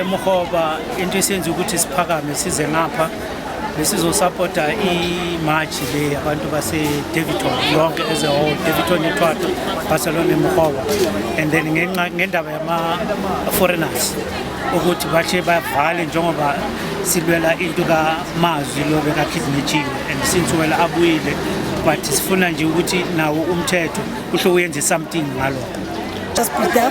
emuhoba into esenza ukuthi siphakame size ngapha besizosapota imatshi le abantu basedaviton yonke as a whole daviton ithwato barcelona emhoba and then ngendaba yama-foreigners ukuthi bashe bavale njengoba silwela into kamazwi lo bekakhidnetshiwe and since wela abuyile but sifuna nje ukuthi nawo umthetho kuhle uyenze something ngalokho just be there,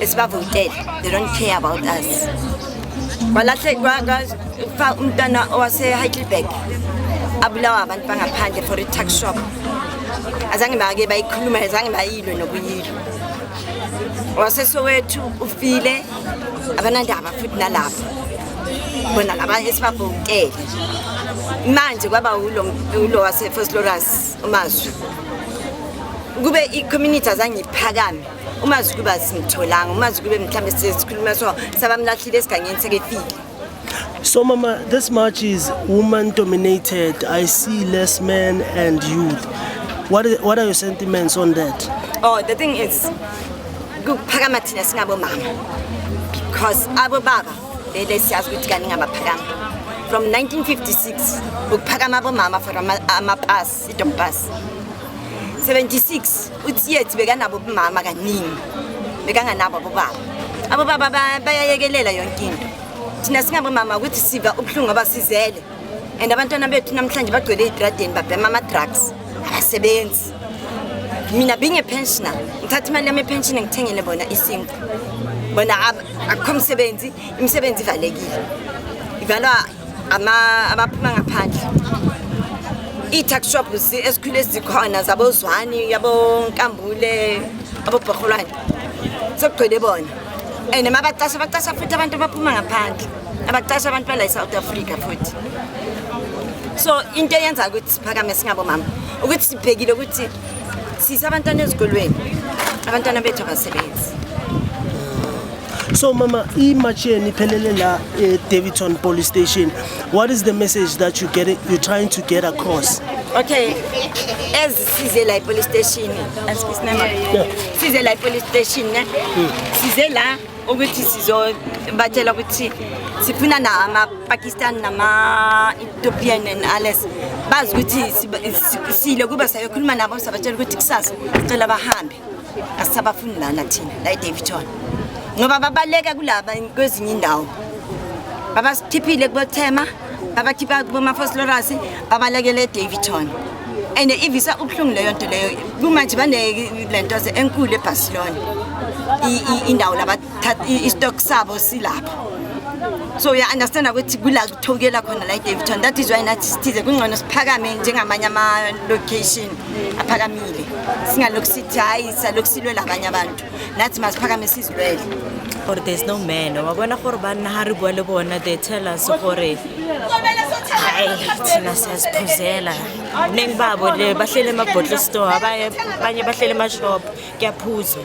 esibavotele they don't care about us kwalahle kwafa umntana owaseheidelberg abulawa abantu bangaphandle for i-tax shop azange bake bayikhuluma azange bayilwe nokuyilwa wasesowethu ufile abanandaba futhi nalapho bona laba esibabhokele manje kwaba ulo wasefosloras umazwi kube i-community azange iphakame uma zikube asimtholanga uma zikube mhlawumbe sikhuluma so sabamlahlile esigangeni sekefile So mama, this march is woman dominated. I see less men and youth. What is, what are your sentiments on that? Oh, the thing is kuphakama thina singabo mama because abo baba lele siyazi ukuthi kaningi abaphakama from 1956 ukuphakama abomama for amapasi idombas 76 utsietsi bekanabo bumama kaningi bekanganabo abobaba abobaba bayayekelela yonke into thina singabomama ukuthi siva ubuhlungu abasizele and abantwana bethu namhlanje bagcwele eyitradeni babhema ama-drugs abasebenzi mina being a pensioner ngithatha imali yami epension ngithengele bona isinko bona akukho msebenzi imisebenzi ivalekile ivalwa abaphuma ngaphandle ii-tax shops esikhule zikhona zabozwani yabonkambule abobhorholwane sekugcwele bona and ma bacasha bacasha futhi abantu abaphuma ngaphandle abacasha abantu bala e-south africa futhi so into eyenza ukuthi siphakame singabomama ukuthi sibhekile ukuthi sise abantwana ezikolweni abantwana bethu abasebenzi so mama imatch yenu iphelele la edavidton eh, police station what is the message that you get it, you're trying to get across okay as size la police station as size la police station ne hmm. size la ukuthi sizobatshela ukuthi sifuna na ama-pakistan nama-ethiopian and alles bazi ukuthi sile kuba sayokhuluma nabo sabatshela ukuthi kusasa sicela bahambe asisabafuni lana thina la edaviton ngoba babaleka kulaba kwezinye indawo babasithiphile kubothema abakhipha kumafoslorasi babalekele edaviton and ivisa ubuhlungu leyo nto leyo kumanje banele nto enkulu ebarcelona indawo istock sabo silapho so uya-understanda ukuthi kula kuthokela khona la idaviton that is why nathi sithize kungcono siphakame njengamanye ama-location aphakamile singalokhu sithi hhayi salokhu silwela abanye abantu nathi masiphakame sizilwele gore there's no man wa bona gore banna ga re bua le bona they tell us gore ai thina siyaziphuzela ningi babo le bahlele emabottle store abanye abanye bahlele emashop kuyaphuzwa